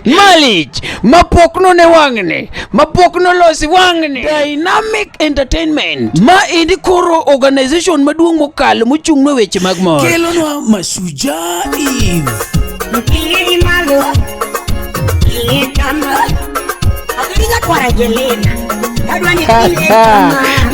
Malich mapok none wang'ni mapok nolosi wang'ni Dynamic Entertainment ma endi koro organization maduong' mokalo mochung'ne weche mag mor kelonwa Mashujaa Eve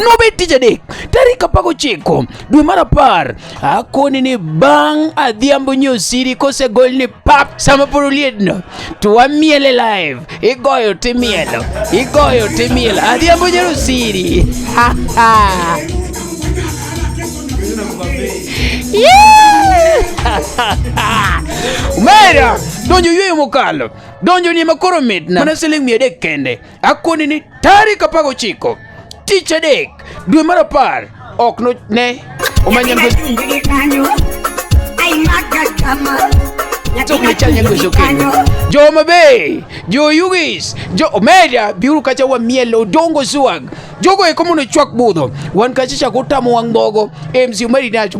nobed tich adek tarik 19 dwe mar apar Akoni ni bang' adhiambo nyosiri kosegol ni pap sama poro liedno to wamiele live igoyo timielo igoyo timielo adhiambo nyosiri ha ha Mera donjo yweyo mokalo donjo ni makoro mitna mana siling' mia adek kende Akuoni ni tarik 19 tich adek dwe mar apar ok no ne omanya ngwe jo mabe jo yugis jo omeda biuru kacha wa miel odongo swag jogo eko mondo chwak budho wan kacha chako utamo wang' mogo mc omedi nacho